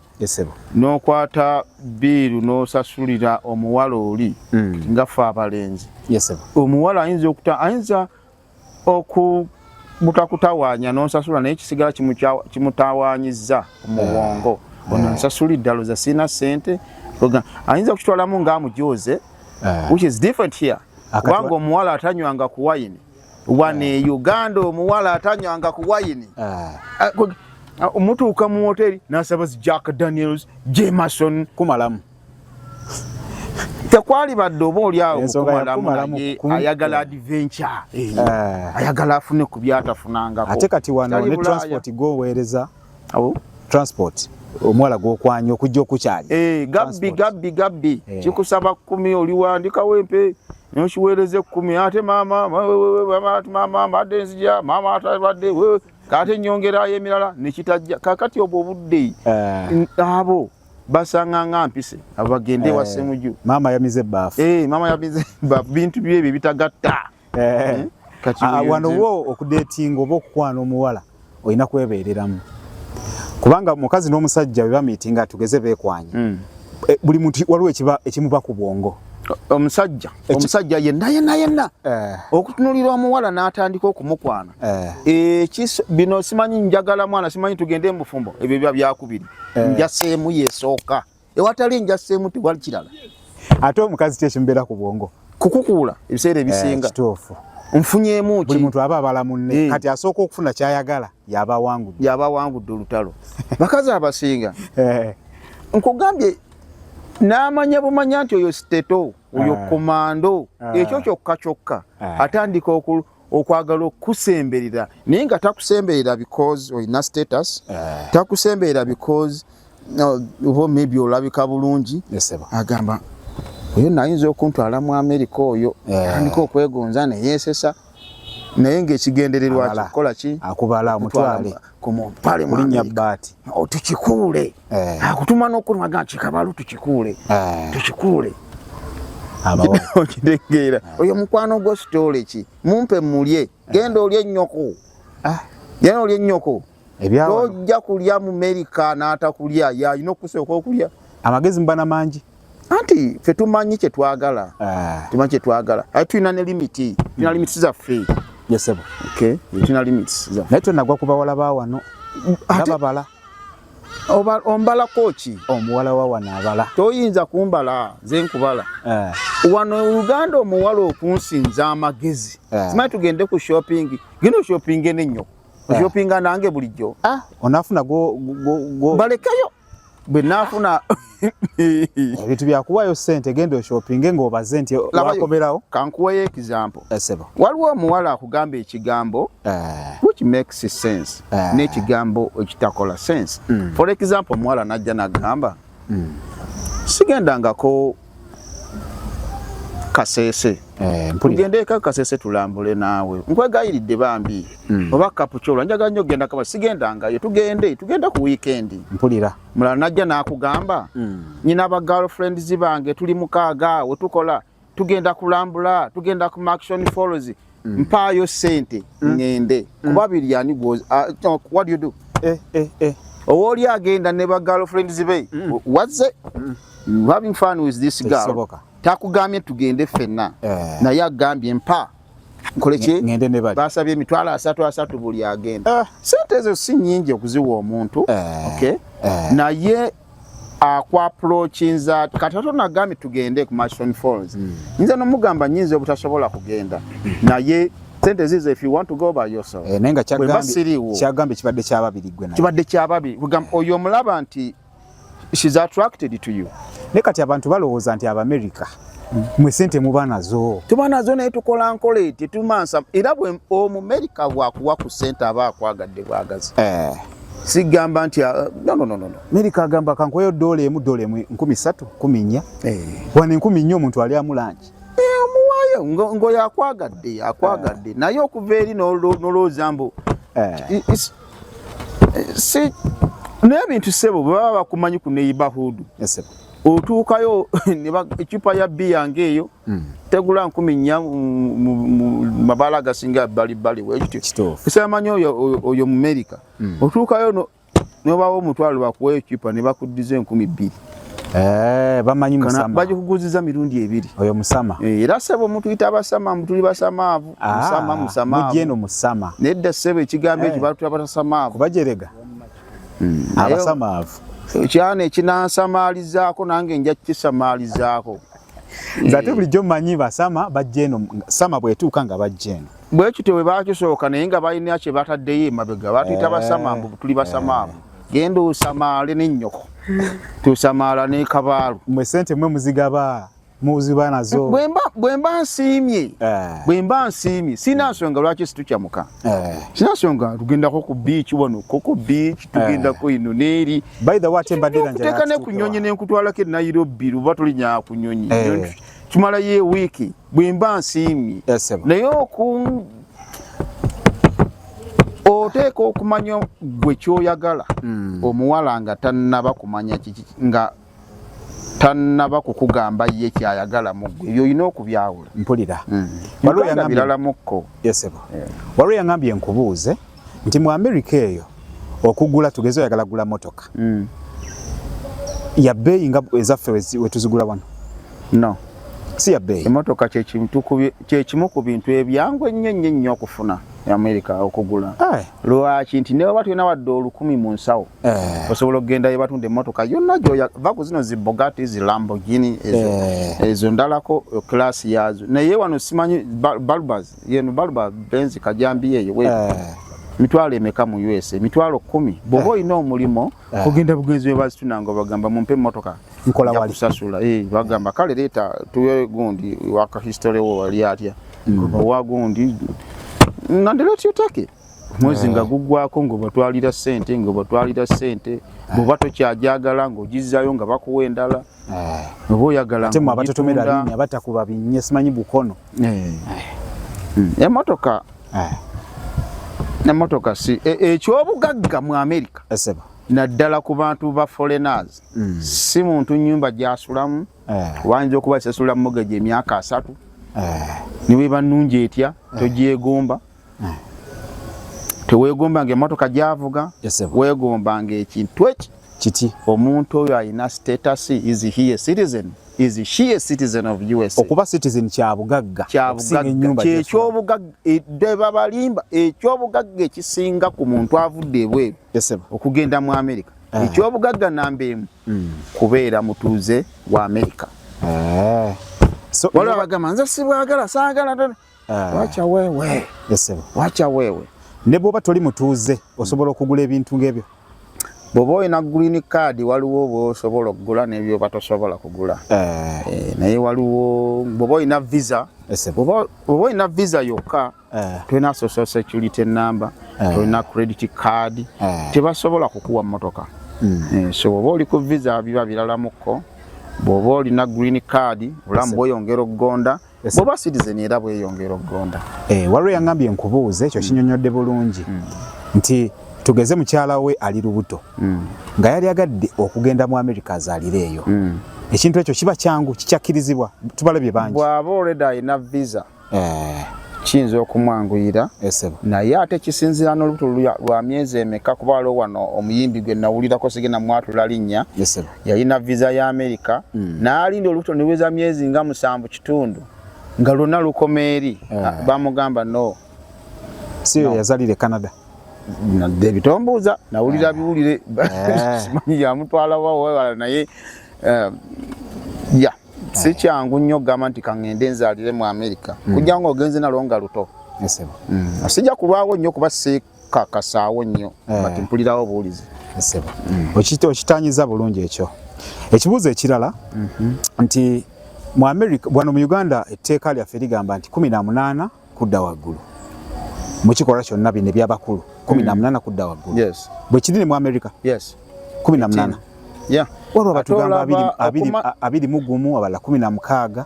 n'okwata biiru n'osasulira omuwala oli hmm. nga fe abalenzi omuwala ayinza okuta ayinza oku butakutawaanya n'onsasula naye kisigala kimutawaanyizza omubwongo eh. ono nsasula eddalo za sirina sente ayinza okukitwalamu nga amujooze eh. which is different here kubanga omuwala atanywanga ku wayini wano e uganda omuwala atanywanga ku wayini ah. ah, ah, mutuuka mu woteri nasaba zi jack daniels jemason kumalamu tekwali badde oba oliawo ayagala adventure eh. ayagala afune ku byatafunangako ate kati wano ne transport goweereza awo transport omwala gwokwanya okujja okukyali eh, gabbi gabbi gabbi eh. kikusaba kumi oliwandikawo empe nokiweereza ekkumi ate maama maama mbadde nzija maama atabadde ate nyongerayo emirala nekitajja kakati obwo obudde eh. abo basanga nga mpise abagende wasemuju maama yamize ebbafu maama yamize ebbafu bintu byebyo bitagatta eh. hmm? ah, wano wo okudetinga oba okukwana omuwala olina kwebeereramu kubanga omukazi n'omusajja bwe bamiitinga tugeze beekwanye hmm. eh, buli muntu waliwo ekimuba ku bwongo omusajja omusajja yenna yenna yenna eh. okutunulira omuwala n'atandika okumukwana eh. bino simanyi njagala mwana simanyi tugende mubufumbo ebyo biba byakubiri njaseemu yesooka ewatali njasa emu tewali kirala ate omukazi kye kimbeera ku bwongo kukukuula ebiseera eh, ebisinga kituufu nfunyemu ki buli muntu aba abala munne eh. kati asooka okufuna kyayagala yaba awangudde yaba awangudde olutalo bakazi abasinga eh. nkugambye n'amanya bumanya nti oyo siteto oyo komando ekyo kyokka kyokka atandika okwagala okukusemberera naye nga takusemberera because olina status eh. takusemberera because oba maybe olabika bulungi agamba oyo nayinza okuntwala mu amerika oyo eh. andika okwegonza neyesesa naye ngaekigendererwa kikola ki akubala amutwale ku muntu pale mu linnya bbaati oh, tukikuule eh. akutuma n'okunwaga kikabalu tukikuule eh. tukikuule okitegeera eh. oyo mukwano gwo sitoole ki mumpe mulye genda olye ennyoko ah. genda olye ennyoko tojja kulya mu merika n'atakulya yalina okusooka okulya amagezi mubana mangi anti fe tumanyi kyetwagala ah. tumanyi kyetwagala aye tulina ne limiti tulina limiti zaffe yesebo tulina limiti zaffe naye tonagwa ku bawala ba wano ababala ombalako ki omuwala wa wano abala toyinza kumbala nze nkubala ah. wano uganda omuwala okunsinza amagezi ah. simanyi tugende ku shopping genda oshoppinge nenyo oshopinga nange bulijjo onafuna balekayo bwe nafuna ebintu byakuwayo sente genda oshopinge ngaobaze nti wakomerawo kankuwayo example esebo eh, waliwo omuwala akugamba ekigambo eh. which makes sense eh. n'ekigambo ekitakola sense hmm. for example omuwala najja nagamba hmm. sigendangako kasese eh, tugende eka kasese tulambule naawe nkwegayiridde bambi hmm. oba kapucola njagala nyo okugenda kaba sigendangayo tugende tugenda ku wiikendi mpulira mulala najja nakugamba hmm. nyina ba girlfriends bange tuli mukaaga wetukola tugenda kulambula tugenda ku maction falls mm. mpaayo sente mm. ngende mm. kuba biri ani gwozi uh, what do you do eh, eh, eh. owooli agenda ne ba girlfriends be mm. what's it mm. you having fun with this girl takugambye tugende fenna eh. naye agambye mpa nkoleki ngende ne bali basabye emitwalo asatu asatu buli agenda eh. sente ezo si nyingi okuziwa omuntu eh. okay eh. naye akwa prokinza kati ato nagambye tugende ku Mashon Falls mm. nze nomugamba nyinza obutasobola kugenda naye sente zizo if you want to go by yourself eh, nenga kyagambi kyagambi kibadde kyababiri gwe naye kibadde kyababiri kugamba oyo omulaba nti she's attracted to you ne kati abantu balowooza nti abamerica mwe sente muba nazo tuba nazo naye tukola nkola eti tumansa era bwe omumerica bwakuwa ku sente aba akwagadde bwagazi eh. sigamba nti ah, no, no, no, no. Amerika agamba kankoyo dola emu dola emu nkumi satu kumi nnya hey. Eh. wano enkumi nnya omuntu ali amulangi eh, omuwayo hey, ngo yakwagadde yakwagadde eh. naye okuva eri nolowooza mbu hey. si n'ebintu sebo bwe baba bakumanyi ku neyibahudu yes, otuukayo ecupa ya bbi yange eyo Hmm. tegula nkumi nnya mu mabala agasinga bbalibbali wekityo esamanya oyo mu merika hmm. otuukayo nobawo omutwalo bakuwa ekipa ne bakuddiza enkumi bbiri eh, bamanyi bagikuguziza mirundi ebiri oyo musama eh, era sebo mutuyita abasama mutuli basamaavu ah, musama musamamujeno musama nedda sebo ekigambo ekyo eh. batula batasamaavu bajerega hmm. abasamaavu kyana ekinansamalizaako nange nja kukisamaalizaako nze ate bulijjo mmanyi basama bajja eno sama bwetuuka nga bajja eno bwe kityo bwe bakisooka naye nga balina kye bataddeyo emabega batuyita basama mbu tuli basamaamu genda osamaale nennyoko tusamaala ne kabaalu mwe sente mwe muzigaba muziba nazo bwemba nsiimye eh. bwemba nsiimye sirina nsonga lwaki situcamuka Eh. sinasonga tugendako ku beach wano koko beach eh. tugendako ino neeri okuteeka ne ku nyonyi nenkutwalako e nairobi luba tulinya ku nyonyi eh. tumalayo ewiiki bwe mba nsiimye naye oku oteeka okumanya gwe kyoyagala hmm. omuwala nga tannaba kumanya kiki nga tanaba kukugamba ye kyayagala mugwe ebyo olina okubyawula mpulira biralamuko waliwo yangambye nkubuuze nti mu amerika eyo okugula tugeze oyagala gula motoka mm. yabeeyi nga ezaffe wetuzigula wano no si yabeeyi emotoka kyekimu ku bintu ebyangu ennyo ennyo ennyo okufuna amerika okugula eh. lwaki nti newaba tulina wadde olukumi mu nsawo eh. osobola okugenda yebatunda emotoka yonna gyoya va ku zino zibogati zilambogini eh. ezo ndalako kilasi yazo naye wano simanyi balbas yeno balba benzi kajambi eyo mitwalo emeka mu usa mitwalo kumi bwoba olina omulimu Ah. ogenda bugenzi bwe bazitunanga obagamba mumpe emmotoka nkolawalikusasula eh, bagamba kale leeta tuwe gundi waka history wo wali atya mm. owa gundi nandeletutake mwezi nga ah. guggwako ngaobatwalira sente ngaobatwalira sente ah. bwoba tokyajagala ngaogizzayo nga bakuwa endala Eh. oba oyagala ate mwabatotomera binya batakuba binye simanyi bukono eh. hmm. emotoka eh. emotoka si e, ekyobugagga mu amerika naddala ku bantu ba foreigners hmm. si muntu nyumba gyasulamu wayinza okuba sesula mugeja emyaka asatu niweba nungi etya togyegomba hmm. tewegomba nga emotoka gyavuga wegomba nga ekintu eki kiti omuntu oyo alina status is he a citizen is she a citizen of usa okuba citizen kyabugagga kyekyobugagga e, debabalimba ekyobugagga ekisinga ku muntu avudde ebweru okugenda mu amerika eh. ekyobugagga namba emu hmm. kubeera mutuuze wa amerika eh. waliwo abagamba nze sibwagala saagala Ah. Wacha wewe. Yes, Wacha wewe. Ne bwoba toli mutuuze osobola okugula ebintu ng'ebyo. Bwoba olina green card waliwo bwosobola okugula n'ebyo batosobola kugula. Eh. Eh, naye waliwo bwoba olina visa. Yes, bwoba olina visa yokka eh. tulina social security number, eh. tulina credit card. Eh. Tebasobola kukuwa mmotoka. Mm. Eh, so bwoba oli ku visa biba biralamuko. bw'oba olina green card olamu bweyongera okugonda bwoba citizen era bweyongera okugonda eh, waliwo yangambye enkubuuza ekyo kinyonyodde bulungi hmm. nti tugeze mukyala we ali lubuto hmm. nga yali agadde okugenda mu america azalire eyo hmm. ekintu ekyo kiba kyangu kikyakkirizibwa tubalabye bangi bwaba olredi alina visa eh. kiyinza okumwanguyira naye ate kisinzira n'olubuto lwa myezi emeka kuba waliwo wano omuyimbi gwe nawulirako sigenda mwatula linnya yalina viza ya amerika mm. naalinda olubuto niweza myezi nga musanvu kitundu nga lwonna lukoma eri yeah. Ah. bamugamba no si no. yazalire canada nadde bitombuuza nawulira yeah. biwulire eh. simanyi yamutwala wawewala naye uh, ya yeah. si eh. kyangu nnyo okugamba nti kaŋŋende nzaalire mu amerika mm. kujja nga ogenze nalwo nga luto mm. sijja kulwawo nnyo kuba kakasaawo nnyo eh. kati mpulirawo obuwulizi nsebo mm. okitanyiza bulungi ekyo ekibuuzo ekirala mhm. nti mu america wano mu uganda etteeka lyaffe ligamba nti kumi na munaana kudda waggulu mukikolwa kyonna bino ebyabakulu kumi na mm. munaana kudda waggulu bwekiri ne mu america yes. kumi na munana yeah. waliwo batugamba abiri mu gumu abala kumi na mukaaga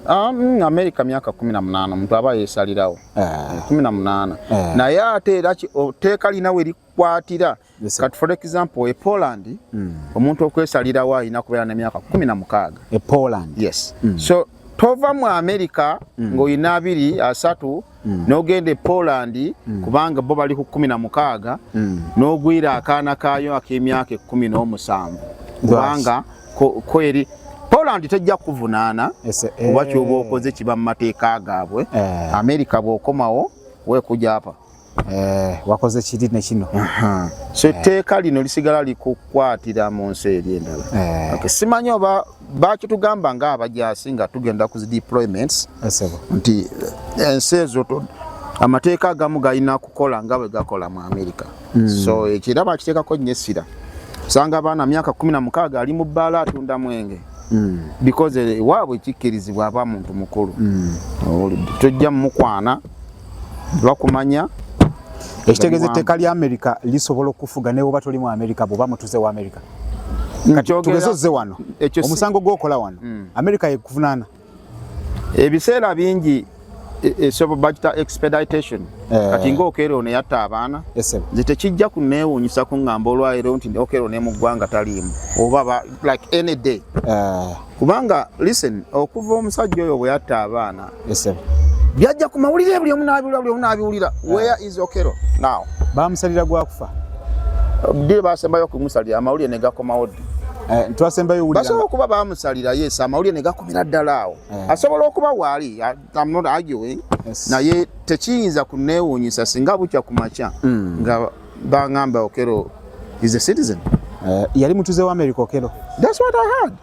ah, mm, amerika myaka kumi na munana omuntu aba yesalirawo eh. Eh, kumi na munana eh. naye ate era oteeka lina we likwatira kati for example e poland mm. omuntu okwesalirawo alina kubeera nemyaka kumi na mukaaga e poland yes mm. so tova mu amerika ng'olina abiri asatu mm. n'ogenda e Poland mm. kubanga bo bali ku kkumi na mukaaga mm. n'ogwira akaana kaayo ak'emyaka ekkumi n'omusanvu kubanga kweri Poland tejja kuvunaana kuba eh. kyoba okoze kiba mu mateeka gaabwe eh. Amerika bw'okomawo wekuja apa eh, wakoze kiri ne kino uh -huh. so etteeka eh. lino lisigala likukwatira mu nsi eri endala eh. okay. simanyi oba bakitugamba nga abajaasi nga tugenda ku deployments nti eh, ensi ezo amateeka agamu galina kukola nga bwe gakola mu amerika hmm. so ekyo era bakiteekako nnyo essira osanga abaana myaka kumi na mukaaga ali mu bbaala atunda mwenge hmm. because eh, waabwe kikkirizibwa aba muntu mukulu hmm. oh, tojja mumukwana bakumanya ekitegeza etteeka lya amerika lisobola okufuga newoba toli mu amerika bwoba mutuze wa amerika tugeze ozze wano omusango gwokola wano hmm. amerika yekuvunaana ebiseera bingi e, esobo bagita expeditation eh. kati nga okero ono yatta abaana nze tekijja kuneewuunyisa kuŋŋamba olwaleero nti okero ne mu ggwanga taliimu oba like any day eh. kubanga listen okuva omusajja oyo bwe yatta abaana byajja ku mawulire buli omu n'abiwulira buli omu n'abiwulira ah. where is okero now baamusalira gwakufa ddi baasembayo okumusalira amawulire ne gakomawo ddi eh, twasembayo basobola okuba baamusalira yes amawulire ne gakomera ddala awo eh. asobola okuba waali I'm not arguing yes. naye tekiyinza kuneewuunyisa singa bukya ku makya mm. nga bangamba okero is a citizen uh, yali mutuze wa america okero that's what i heard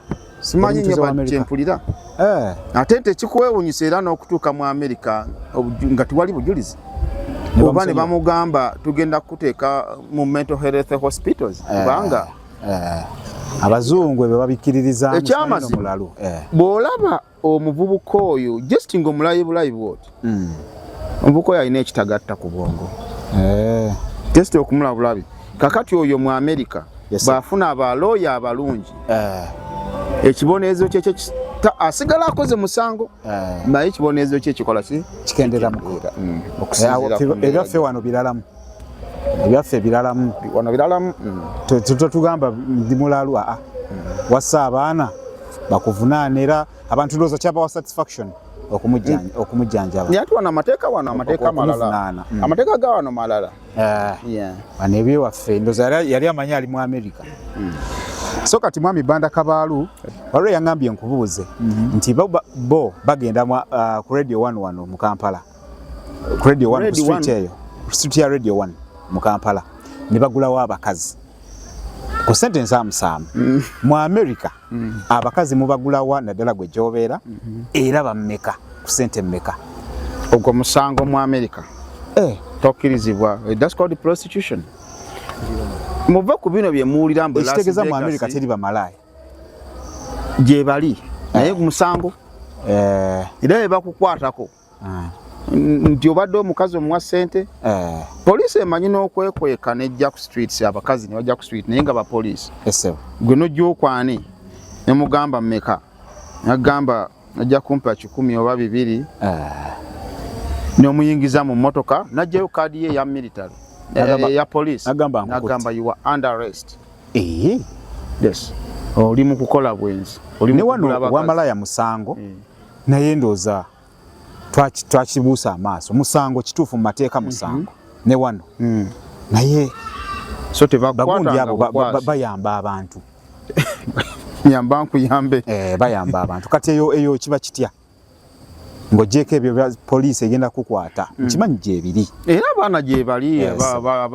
simanyi nyo kyempulira eh. ate tekikwewunyisa era n'okutuuka mu amerika nga tiwali bujulizi oba ne bamugamba tugenda kukuteeka mu mental health hospitals eh. kubanga eh. abazungu ebyo babikkiririzamulalu bw'olaba omuvubuka oyo just nga omulayi bulayi bwoti hmm. omuvubuka oyo alina ekitagatta ku bwongo eh. just okumula bulabi kakati oyo mu america bwafuna abalooya abalungi eh. ekibonerezo kyekyo asigala akoze musango eh. naye ekibonerezo kye kikola ki kikendera muera hmm. ffe wano biralamu ebyaffe ebiralamu wano biralamu mm. tetugamba ndi mulalu aa ah, mm. wassa abaana bakuvunaana era abantu ndowooza kyabawa satisfaction okumujjanjaba naye ati wano amateeka wano amateeka malala mm. amateeka ga wano malala eh. wano ebyewaffe ndoza yali amanyi ali mu amerika mm. so kati mwami banda kabaalu waliwo yangambye nkubuuze mm-hmm. nti bo bagenda uh, ku radio one wano mu kampala Radio 1 ku street eyo. Street ya Radio 1 mu Kampala. Ne bagulawo abakazi. Ku sente nsaamu saamu. Mm. Mu America mm. abakazi mubagulawa naddala gwe gyobeera mm -hmm. era bammeka ku sente mmeka. Ogwo musango mu America. Eh. Tokkirizibwa. Eh, that's called prostitution. Muva ku bino bye muwulira mbu Las Vegas. Ekitegeza mu America teri bamalaaya. Gyebali. Naye eh. ku musango. Eh. Era ebakukwatako. ah. nti obadde omukazi omuwa sente eh. poliisi emanyi n'okwekweka ne jack streets abakazi ne bajack street naye nga bapoliisi gwe nojja okwani ne mugamba meka nagamba najja kumpa kikumi oba bibiri eh. nomuyingiza mu motoka najjayo kaadi ye ya military eh, ya poliisi nagamba you are under arrest yes oli mu kukola bwenzi oli mu kukola bakazi ne wano wamalaya musango mm. naye ndooza twakibuusa amaaso musango kituufu mu mateeka musango mm -hmm. ne wano mm. naye so bagundi abo bayamba abantu yamba nkuyambe eh, bayamba abantu kati eyo eyo kiba kitya ng'ogyeko ebyo poliisi egenda kukwata hmm. nkimanyi gyebiri era abaana gyebali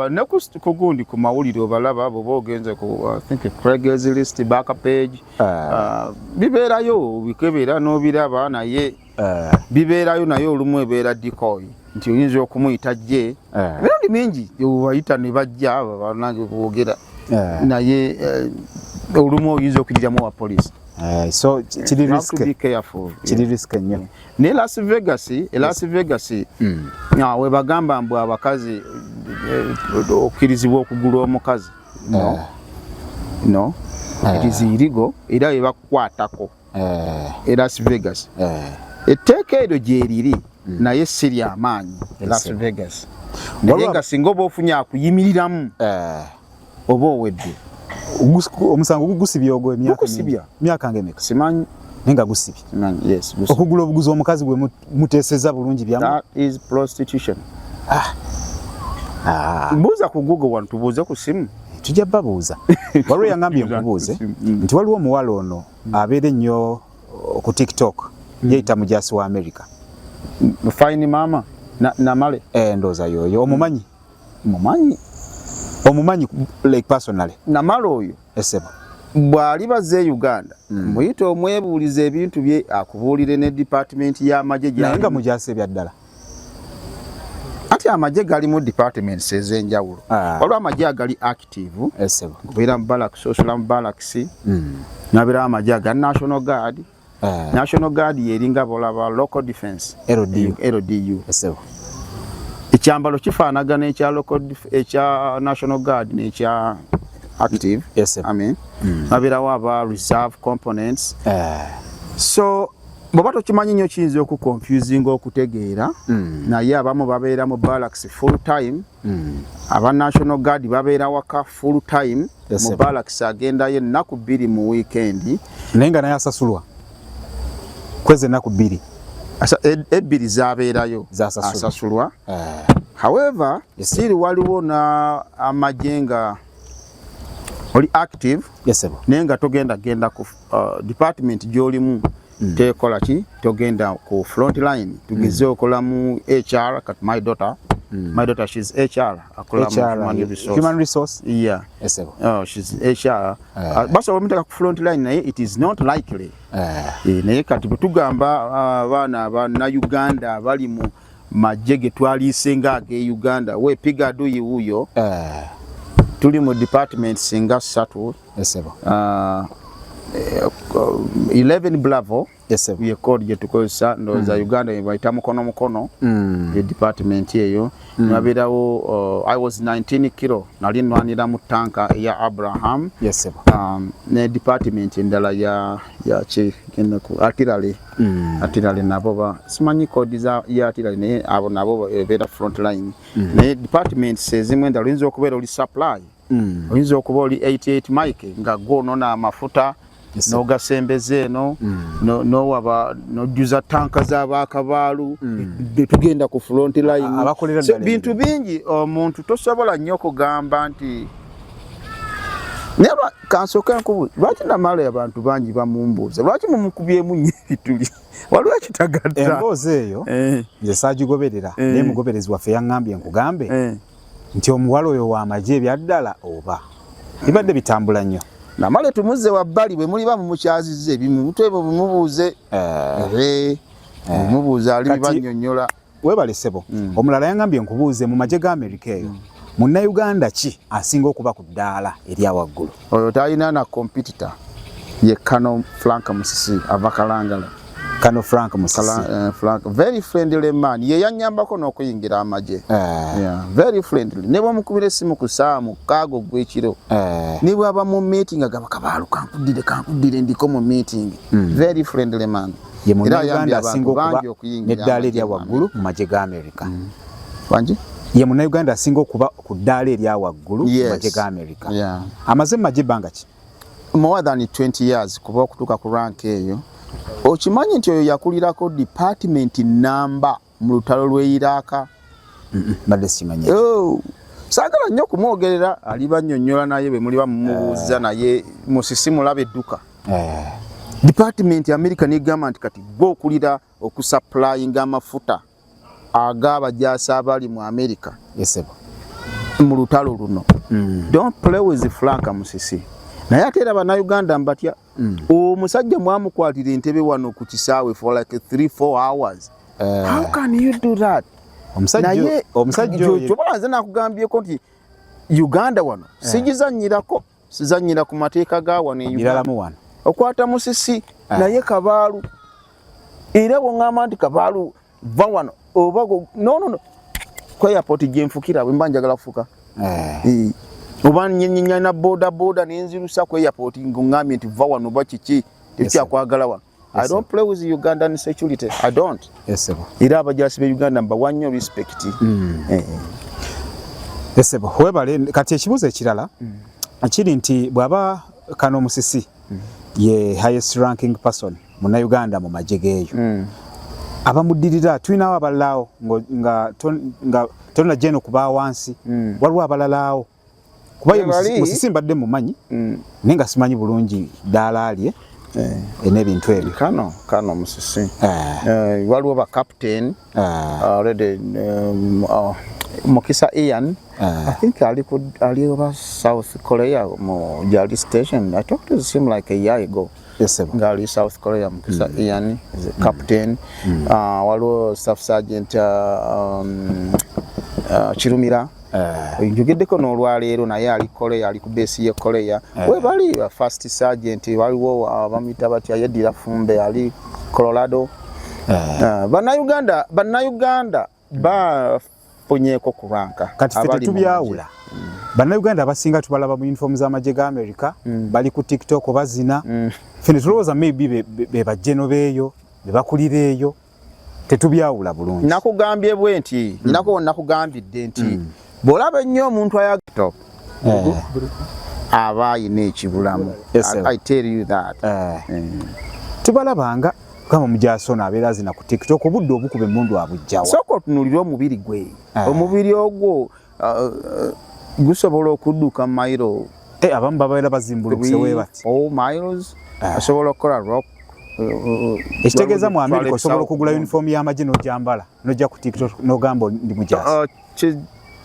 ne kugundi ku mawulire obalaba abo boogenze ku think craigslist back page ah. Ah, bibeerayo bikebera n'obiraba naye ah. bibeerayo naye olumu ebeera dikoyi nti oyinza okumuyita jje emirundi mingi obayita ne bajja banange boogera naye eh, olumu oyinza okujiramu owa poliisi Uh, so kiri risk to be careful kiri yeah. risk nnyo ne Las Vegas e Las Vegas mm. uh, we bagamba mbu abakazi eh, okirizibwa okugula omukazi no no it is illegal era bebakukwatako elas vegas etteeka eryo gyeriri mm. naye si lyamaanyi las vegas naye nga singa oba ofunye akuyimiriramu oba owedde omusango gugusibye ogwo emyaka nga emeka simanyi naye nga gusibye okugula obuguzi omukazi gwe muteseza bulungi byamu that is prostitution ah ah buza ku google one tubuze ku simu tujja babuza waliwo yangambye nkubuze mm. nti waliwo omuwala ono mm. abeera ennyo uh, ku tiktok mm. yeyita mujasi wa america fine mama namale na eh, ndoza yoyo omumanyi mumanyi omumanyi like personally namale oyo esebo bwali baze e Uganda mm. muyite omwebuuliza ebintu bye akubuulire ne department y'amagye gyali nga mujaase ebyaddala ati amagye galimu departments ez'enjawulo ah. waliwo amagye agali active obeera mu balakisi osola mu balakisi mm. nabeerawo amagye aga national guard Ah. National Guard yeringa bolaba local defense LDU, LDU. Esewo. Ekyambalo kifaanagana ekya local ekya National Guard n'ekya active yes, I mean mm. nabirawo aba reserve components uh. so bwoba tokimanyi nnyo kiyinza okuconfusinga okutegeera mm. naye abamu babeera mu barracks full time Hmm. aba national guard babeera waka full time mu barracks agendayo ennaku bbiri mu wiikendi naye nga naye asasulwa kwezi ennaku bbiri ebbiri zabeerayo asasulwa eh. however siri waliwo na amagye nga oli active naye nga togenda genda ku uh, department gyolimu mm. tekola ki togenda ku front line tugeze mm. okola mu HR kat my daughter mm. my daughter she's HR akola mu human resource human resource yeah yes sir oh she's HR uh, eh. ah, basa wamutaka ku front line naye it is not likely uh, e, naye kati tugamba ah, abaana uh, na Uganda bali mu majje ge twaliise nga age Uganda we piga do you uyo uh, tuli mu departments nga satu Yes, sebo. Uh, 11 bravo ye code gye tukozesa ndowooza mm. uganda yebayita mukono mukono mm. ye department eyo mm. nabeerawo uh, i was 19 kilo nali nwanira mu tanka eya abraham um, ne department endala ya yaki atirale atirale nabo simanyi code za ya atirale naye abo nabo ebeera front line naye departments ezimu endala oyinza okubeera oli supply mm. oyinza okuba oli 88 mike nga gwonona amafuta nogasembeza eno mm. nowaba nojuza tanka zabakabaalu mm. netugenda ku front linebintu bingi omuntu tosobola nnyo okugamba nti neba kansoke nkubu lwaki namala abantu bangi bamumbuuza lwaki mumukubyemu nyo ebituli waliwo ekitagatta emboozi eyo eh. nze sagigoberera eh. naye mugoberezi waffe yaŋambye nkugambe eh. nti omuwala oyo wa magye ebyaddala oba bibadde bitambula nnyo namale tumuzze wabbali bwe muliba mumukyazizza ebimu mutwebo bumubuuze eh. Eh. Eh. mubuuze ali bibanyonyola webale sebo hmm. omulala yangambye nkubuuze mu magye ga amerika eyo hmm. munnauganda ki asinga okuba ku ddaala erya waggulu Oyo talina na competitor ye Kano Frank Musisi ava Kalangala. Kano Frank Musisi. Kala, uh, Frank very friendly man. Ye yanyambako n'okuyingira amaje. Uh, eh. yeah, very friendly. Ne bamukubira esimu ku saamu kago gwekiro. Uh, eh. ne bwaba mu meeting agaba kabaalu kankudire kankudire ndiko mu meeting. Mm. Very friendly man. Ye mu Uganda asinga okuba n'eddaala erya waggulu mu magye ga Amerika. Mm. Wangi? Ye mu Uganda asinga okuba ku ddaala erya waggulu mu magye ga amerika amaze mu magye ebbanga ki more than 20 years kuba okutuuka ku rank eyo okimanyi nti oyo yakulirako department namba mu lutalo lweyiraaka mbadde simanyi oh, saagala nnyo okumwogerera ali bannyonnyola naye bwe muliba mumubuuza eh. naye musisi mulaba edduka eh. department amerika negamba nti kati gwe okulira okusupplyinga amafuta ag'abajaasi abali mu amerika mu lutalo luno mm. don't play with frank musisi naye ate era banauganda mbatya mm. omusajja mwamukwatira entebe wano ku kisaawe for like 3 4 hours eh. how can you do that naye omusajja oyo kyobalanze nakugambyeko nti uganda wano eh. sigizanyirako sizanyira ku mateeka ga wano e Uganda wano okwata musisi ah. naye kabaalu era bwongamba nti kabaalu va wano oba nonono ku airport gyenfukira bwe mba njagala kufuka eh. oba nyenyenyana boda boda nenzirusa ku airport ngongambye nti va wano oba kiki tekyakwagala wano I don't play with Ugandan security. I don't. Yes, sir. Ira abajasi be Uganda mba wanyo respect. Mm. Eh. Yes, sir. Webale kati ekibuzo ekirala. Mm. Akiri nti bwaba kano musisi mm. ye highest ranking person muna Uganda mu majegeyo. Mm. Abamudirira tuinawo abalao nga ton, nga tonna jeno kuba wansi. Mm. Walwa abalalao. kuba ye musisi mbadde mumanyi mm. naye nga simanyi bulungi ddaala lye eh. eh, n'ebintu ebyo kano kano musisi eh. waliwo ba captain already um, oh, mukisa ian i think ali ku ali oba south korea mu jali station i talked to him like a year ago ngaali south korea mukisa mm. ian is a captain mm. uh, waliwo staff sergeant uh, um, uh, kirumira Eh. njogeddeko n'olwaleero naye ali korea ali ku beesi ye korea eh. webali uh, first sergent waliwo uh, bamuyita batya yeddira fumbe ali colorado eh. bannayuganda bannayuganda bafunyeeko kubanka kati fe tetubyawula mm. bannayuganda abasinga tubalaba mu uniform z'amagye ga america mm. bali ku tiktok bazina mm. fe netulowooza maybe bebajjeno beeyo bebakulira eyo tetubyawula bulungi nakugambye bwe nti mm. ninako nakugambidde nti mm. bwolaba ennyo omuntu ayagto eh. aba ayina ekibulamu i tell you that eh. Eh. tubalabanga kama mujasona abeera azina ku tiktok obudde obukuba emundu abujjawa sooka otunulire omubiri gwe omubiri ogwo uh, uh, gusobola okudduka mailo eh, abamu babaera bazimbulukuse webati oh, miles ah. asobola okukola rock ekitegeeza mu amerika osobola okugula uniform y'amagye n'ojambala nojja ku tiktok n'ogamba ndi mujaasi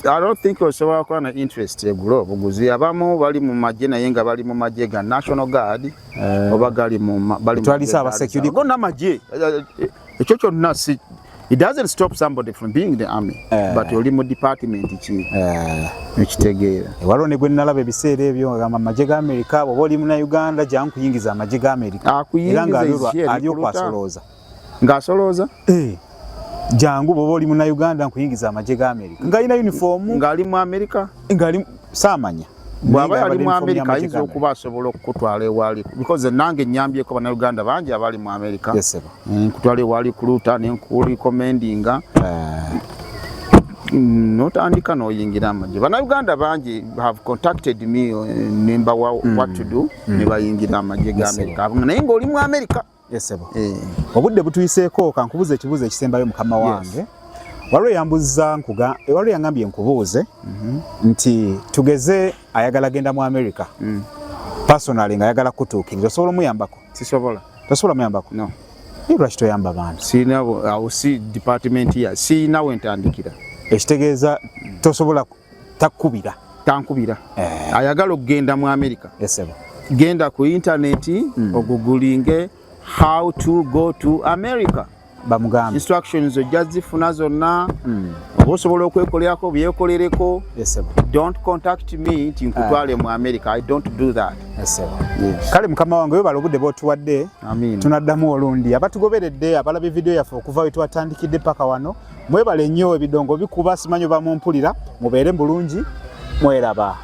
I don't think osobola kuba na interest egula obuguzi abamu bali mu magye naye nga bali mu magye ga national guard eh. oba gali mu bali mu twalisa aba security go na magye eh, eh, ekyo kyonna si it doesn't stop somebody from being the army uh, but oli mu department ki eh. ekitegeera uh, waliwo ne gwe nalaba ebiseera ebyo ngagamba amagye ga amerika bwoba oli muna uganda jangu kuyingiza amagye ga amerika era nga aliokwasoloza ng'asolooza eh. jangu bwoba oli muna uganda nkuyingiza amagye ga amerika ng'alina uniform ng'ali mu amerika ng'ali saamanya bwaba yali mu amerika ayinza okuba asobola okukutwala ewali because nange nyambyeko banauganda bangi abali mu amerika nkutwala ewali kuluta nenkulikomendinga eh. mm, notandika noyingira amagye banauganda bangi have contacted me eh, nembawa mm. what to do mm. nebayingira amagye ga amerika naye ngaoli mu amerika esebo eh, eh. obudde butuyiseeko kankubuza ekibuuzo ekisembayo mukama wange yes. waliwo yambuza nkuga waliwo yangambye nkubuuze mm -hmm. nti tugeze ayagala genda mu america mm. personally nga ayagala kutuukiriza osobola omuyambako sisobola tosobola muyambako no lwaki toyamba bantu sirina awo si department ya sirina wentandikira ekitegeeza tosobola takubira tankubira eh. ayagala okugenda mu america yes, genda ku intaneti mm. ogugulinge how to go to america bamugambe instructions ojja zifuna zonna mm. oba osobola okwekolerako byekolereko yes, don't contact me nti nkutwale eh. mu america i don't do that yes, yes. kale mukama wange webala obudde bwotuwadde tunaddamu olundi abatugoberedde abalabi vidiyo yaffe okuva wetwatandikidde paka wano Mwebale nnyo ebidongo bikuba simanyo bamumpulira mubeere bulungi mweraba.